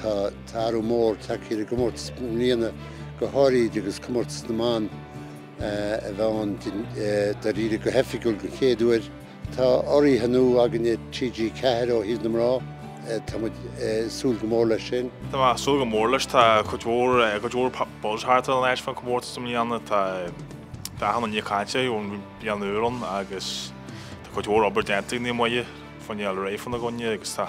Tá athrú mór tagtha ar an gcomórtas i mbliana, go háirithe agus Comórtas na mBan a bheith ann dáiríre go hoifigiúil den chéad uair. Tá urraithe nua againn ag TG4 ó thaobh na mná, tá muid ag súil go mór leis sin. Tá mé ag súil go mór leis, tá cuid mhór buzz thart ar an áit faoin chomórtas i mbliana, tá achan duine ag caint ón bhliain úr ann agus tá cuid mhór obair déanta ag Naomh Muire fá choinne fáil réidh fána gcoinne agus tá.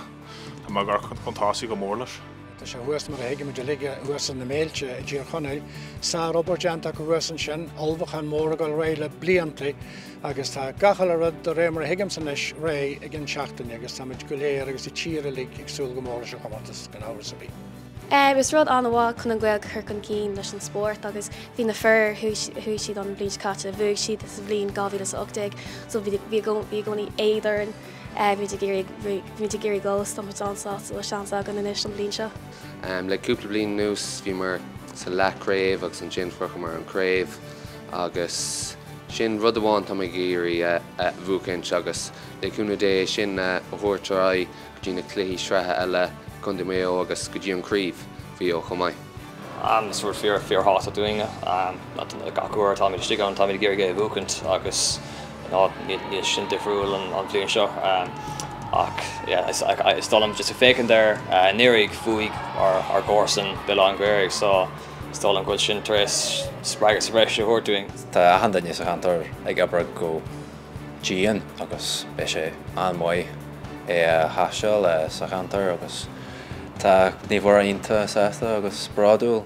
Tá mé ag amharc chun tosaigh go mór leis. Tá sé thuas mar a thuigimid uilig thuas ins na Méilte i dTír Chonaill. Sárobair déanta acu thuas ansin, ullmhúchán mór ag dul ar aghaidh le blianta agus tá gach uile rud de réir mar a thuigimse anois réidh ag an seachtaine agus táimid go léir agus an tír uilig ag súil go mór leis an chomórtas gan amhras ar bith. Is rud an-mhaith chun an Ghaeilge a chur chun cinn leis an spórt agus bhí na fir, chuaigh siad an bhliain seo caite, bhuaigh siad sa bhliain 2018 so bhí i gcónaí éad orainn. Muid ag iarraidh, muid ag iarraidh dul so tá muid an-sásta bhfuil seans againn anois an bhliain seo. Le cúpla bliain anuas bhíomar sa leathchraobh agus ansin shroicheamar an craobh agus sin rud amháin tá mé ag iarraidh a bhuachaint agus le cúnamh Dé é sin a thabhairt ar aghaidh go dtí na cluichí sraithe eile i gContae Maigh Eo agus go dtí an craobh Mhaigh Eo chomh maith. Is rud fíorthábhachtach dúinne. Gach uair atáimid istigh ann táimid ag iarraidh é a bhuachaint agus níl sin difriúil an bhliain seo. Ach is dóigh liom just ag féachaint ar anuraidh bhuaigh ár gcomharsain Béal Átha an Ghaorthaidh so is dóigh liom go bhfuil sin tar éis spreagadh sa bhreis a thabhairt dúinn. Tá achan duine sa cheantar ag obair go. dian agus beidh sé an-mhaith é a hostáil sa cheantar agus tá Naomh Muire iontach sásta agus bródúil.